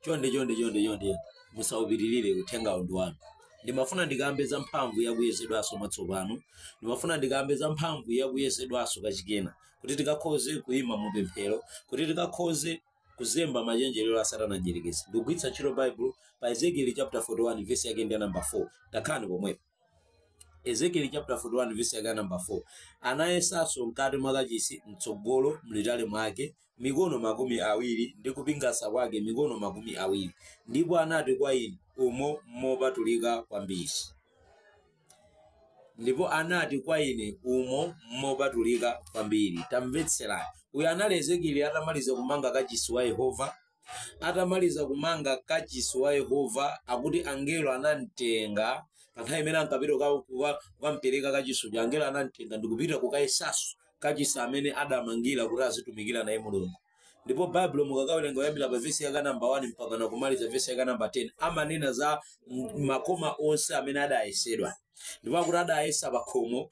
chonde chonde chonde chonde musaupitirire uthenga uwu ndi wanu ndimafuna ndikambe za mphamvu yakuyezedwanso mwatsopano ndimafuna ndikambe za mphamvu yakuyezedwanso kachikena kuti tikakhoze kuyima mu pemphero kuti tikakhoze kuzemba machenjerero a satana mdyerekezi ndikugwiritsa ntchito baibulo pa ezekieli chapter 41 vesi yake ndi ya namba 4 takhani pomwepo ezekieli chapter 41 verse yake namba 4 anayesanso mkati mwa kachisi mtsogolo mlitali mwake mikono makumi awiri ndi kupingasa kwake mikono makumi awiri ndipo anati kwa ine umo mmopatulika kwambiri ndipo anati kwa ine umo mmopatulika kwambiri tamvetserani uyu anali ezekieli atamaliza kumanga kachisi wa yehova Atamaliza kumanga kachisi wa Yehova, akuti angelo anam'tenga. Pa nthawi imene ankapita kuka- kuka- kukam'pereka kachisi uja, angelo anam'tenga ndi kupita kukayesanso kachisi amene adamangira kuti azitumikira naye Mulungu. Ndipo Baibulo mukakawerenga kuyambira pa vesi yake namba 1 mpakana kumaliza vesi yake namba 10 amanena za m- makoma onse amene adayesedwa. Ndipo akuti adayesa pakhomo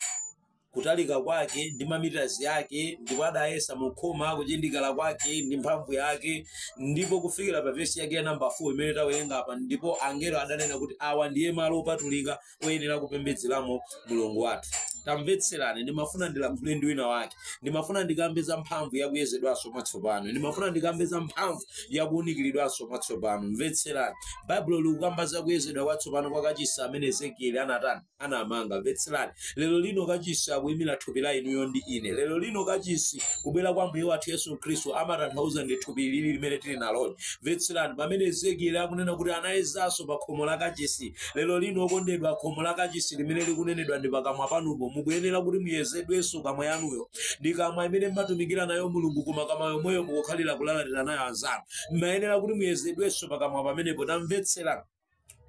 kutalika kwake ndi mamitazi ake ndipo adayesa mu khoma kuchindikala kwake ndi mphamvu yake ndipo kufikira pa vesi yake ya namba 4 imene tawerenga apa ndipo angelo adanena kuti awa ndiye malo opatulika oyenera kupembedzeramo mulungu wathu tamvetserani ndimafuna ndilankhule ndi wina wake ndimafuna ndikambe za mphamvu yakuyezedwanso mwatsopano ndimafuna ndikambe za mphamvu yakuunikiridwanso mwatsopano mvetserani baibulo likukamba za kuyezedwa kwatsopano kwa kachisi amene ezekieli anatani anamanga mvetserani lero lino kachisi akuyimira thupi la inuyo ndi ine lero lino kachisi kubwera kwa mbuye wathu yesu khristu amatanthauza ndi thupi ili limene tili naloli mvetserani pamene ezekieli akunena kuti anayezanso pa khomo la kachisi lero lino okondedwa khomo la kachisi limene likunenedwa ndi pakamwa panupo mukuyenera kuti muyezedwenso kamwa yanuyo ndi kamwa imene mmatumikira nayo mulungu koma kamwa yomweyo mukukhalira kulalatira nayo anzanu mmayenera kuti muyezedwenso pakamwa pamenepo tamvetserani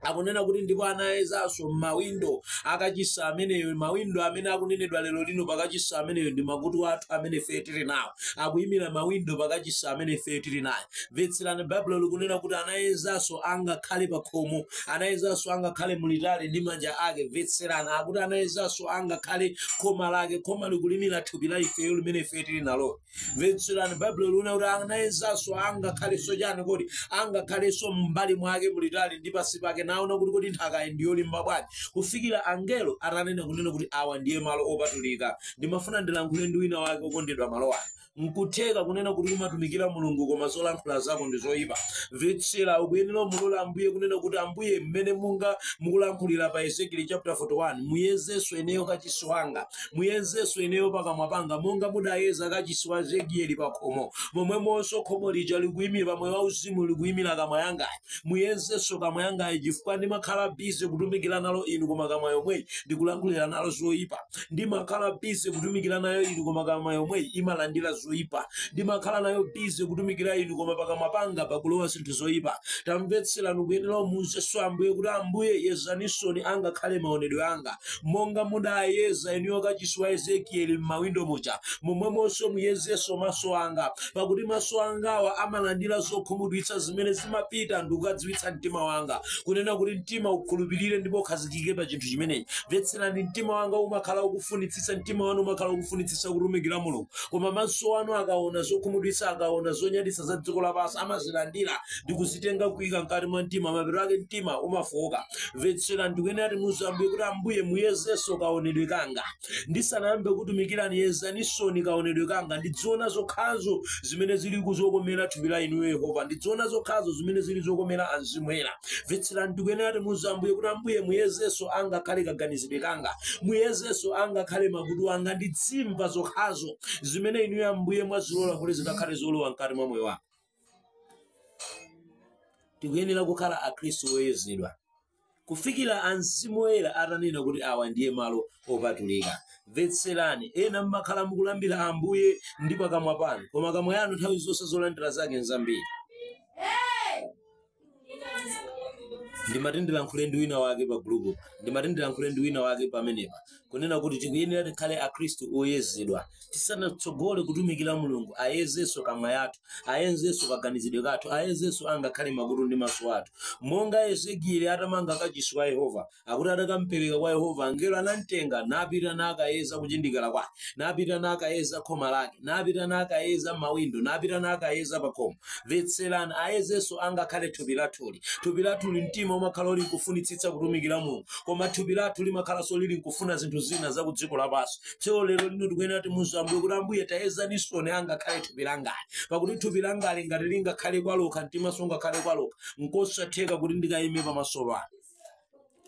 akunena kuti ndipo anayezanso m'mawindo akachisi ameneyo mawindo amene akunenedwa lero lino pakachisi ameneyo ndi makutu athu amene ife tili nawo akuyimira mawindo pakachisi amene ife tili nayo mvetserani baibulo likunena kuti anayezanso angakhale pa khomo anayezanso angakhale mulitali ndi manja ake mvetserani akuti anayezanso angakhale khoma lake khoma likuyimira thupi la ifeyo limene ife tili nalo mvetserani baibulo likunena kuti anayezanso angakhalenso chani kodi angakhalenso m'mbali mwake mulitali ndi pansi pake naona kuti kodi nthakayi ndi yolimba bwanji kufikira angelo atanena kunena kuti awa ndiye malo opatulika ndimafuna ndilankhule ndi wina wake okondedwa malo ano nkutheka kunena kuti umatumikira mulungu koma zolankhula zako ndi zoyipa mvetsera ukuyenera umulole ambuye kunena kuti ambuye mmene munga mukulankhulira pa ezekieli chapter 41 muyezenso ineyo kachisi wanga muyenzenso ineyo pakamwa panga monga mudayeza kachisi wa ezekieli pakhomo momwemonso khomo lija likuyimira pa moyo wauzimu likuyimira kamwa yangayi muyenzenso kamwa yangayi chifukwa ndimakhala bize kutumikira nalo inu koma kamwa yomweyi ndikulankhulira nalo zoyipa ndimakhala bize kutumikira nayo inu koma kamwa yomweyi imalandira zoyipa ndimakhala nayo busy kutumikira inu koma pakamwa panga pakulowa zinthu zoyipa tamvetserani ukuyenera umuuzenso ambuye kuti ambuye yezaninsoni angakhale maonedwe anga Monga mudayeza inuyo kachisi wa Ezekieli m'mawindo muja, momwemonso muyezenso maso anga, pakuti maso angawa amalandira zokhumudwitsa zimene zimapita ndikukadziwitsa mtima wanga, kunena kuti, Mtima ukhulupirire ndipo ukhazikike pa chinthu chimenechi. Mvetserani, mtima wanga umakhala ukufunitsitsa, mtima wanu umakhala ukufunitsitsa kutumikira Mulungu, koma maso anu akaona zokhumudwitsa, akaona zonyaditsa za dziko lapansi, amazilandira ndi kuzitenga kuika mkati mwa mtima, mapeto ake mtima umafooka. mvetserani tikuyenera timuuze ambuye kuti ambuye muyezenso kaonedwe kanga ndisanayambe kukutumikirani yezaninsoni kaonedwe kanga ndidziona zokhazo zimene zili zokomera thupi la inuyo yehova ndidziona zokhazo zimene zili zokomera amzimu oyera mvetserani tikuyenera timuuze ambuye kuti ambuye muyezenso angakhale kaganizidwe kanga muyezenso angakhale makutu anga ndidzimva zokhazo zimene inuyo ambuye mwazilola kuti zikakhale zolowa mkati mwa moyo wanga tikuyenera kukhala akhristu oyezedwa kufikira amzimu oyera atanena kuti awa ndiye malo opatulika mvetserani ena mmakhala mukulambira ambuye ndi pakamwa panu koma kamwa yanu nthawi zonse zolandira zake nzambiri ndimati ndilankhule ndi wina wake pa group ndimati ndilankhule ndi wina wake pamenepa kunena kuti tikuyenera tikhale akhristu oyezedwa tisanatsogole kutumikira mulungu ayezenso kamwa yathu ayezenso kaganizidwe kathu ayezenso angakhale makutu ndi maso athu monga ezekieli atamanga kachisi wa yehova Akuti atakampereka kwa Yehova, angelo anamtenga, napita nakayeza kuchindikala kwake, napita nakayeza khoma lake, napita nakayeza mawindo, napita nakayeza pakhomo. Mvetserani, ayezenso angakhale thupi lathuli. Thupi lathuli mtima umakhala uli nkufunitsitsa kutumikira Mulungu, koma thupi lathu limakhalanso lili nkufuna zinthu zina za ku dziko lapansi. Tsono lero lino tikuyenera timuuze Ambuye kuti Ambuye tayezaninsoni angakhale thupi langali, pakuti thupi langali ngati lingakhale kwa lokha, mtimanso ungakhale kwa okha, nkosatheka kuti ndikayime pamaso panu.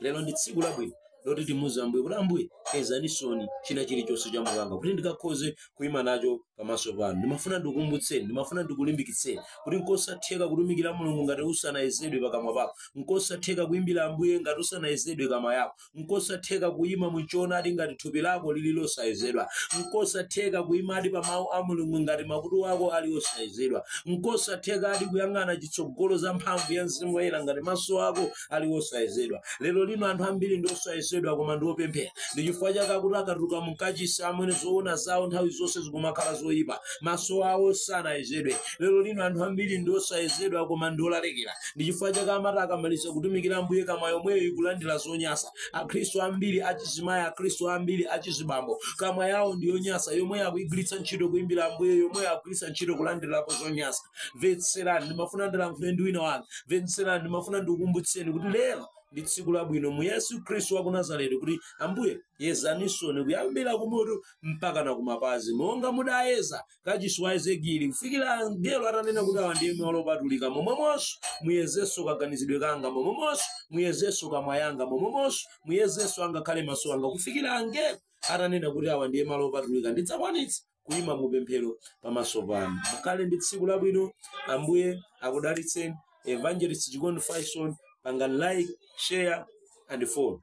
lero ndi tsiku labwino loti timuuze ambuye kuti ambuye yezaninsoni china chilichonse cha moyo wanga kuti ndikakhoze kuyima nacho pamaso panu ndimafuna ndikukumbutseni ndimafuna ndikulimbikitseni kuti nkosatheka kutumikira mulungu ngati usanayezedwe pakamwa pako nkosatheka kuyimbira ambuye ngati usanayezedwe kamwa yako nkosatheka kuyima muchoonadi ngati thupi lako lili losayezedwa nkosatheka kuyimadi pa mawu a mulungu ngati makutu ako ali osayezedwa nkosatheka adi kuyang'ana chitsogolo za mphamvu ya mzimu woyera ngati maso ako ali osayezedwa lero lino anthu ambiri ndi osayezedwa koma ndi opemphera ndi chifukwa chake chakuti akatuluka mukachisi amwene zoona zawo nthawi zonse zikumakhala zoyipa maso awo sanayezedwe lero lino anthu ambiri ndi osayezedwa koma ndi olalikira ndi chifukwa chake amati akamaliza kutumikira ambuye kamwa yomweyo ikulandira zonyasa akhristu ambiri achizimayi akhristu ambiri achizibambo kamwa yawo ndi yonyasa yomweyo akuyigwiritsa ntchito kuyimbira ambuye yomweyo akugwiritsa ntchito kulandirapo zonyasa mvetserani ndimafuna ndilankhule ndi wina wake mvetserani ndimafuna ndikukumbutseni kuti lero ndi tsiku labwino mu yesu khristu wa ku nazareti kuti ambuye yezaninsoni kuyambira kumutu mpakana kumapazi monga mudayeza kachisi wa ezekieli kufikira angelo atanena kuti awa ndiye malo opatulika momwemonso muyezenso kaganizidwe kanga momwemonso muyezenso kamwa yanga momwemonso muyezenso angakhale maso anga kufikira angelo atanena kuti awa ndiye malo opatulika ndidzakwanitsa kuyima mu pemphero pamaso panu mukhale ndi tsiku labwino ambuye akudalitseni evangelist chikondi faison pangani like share and follow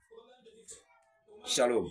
shalom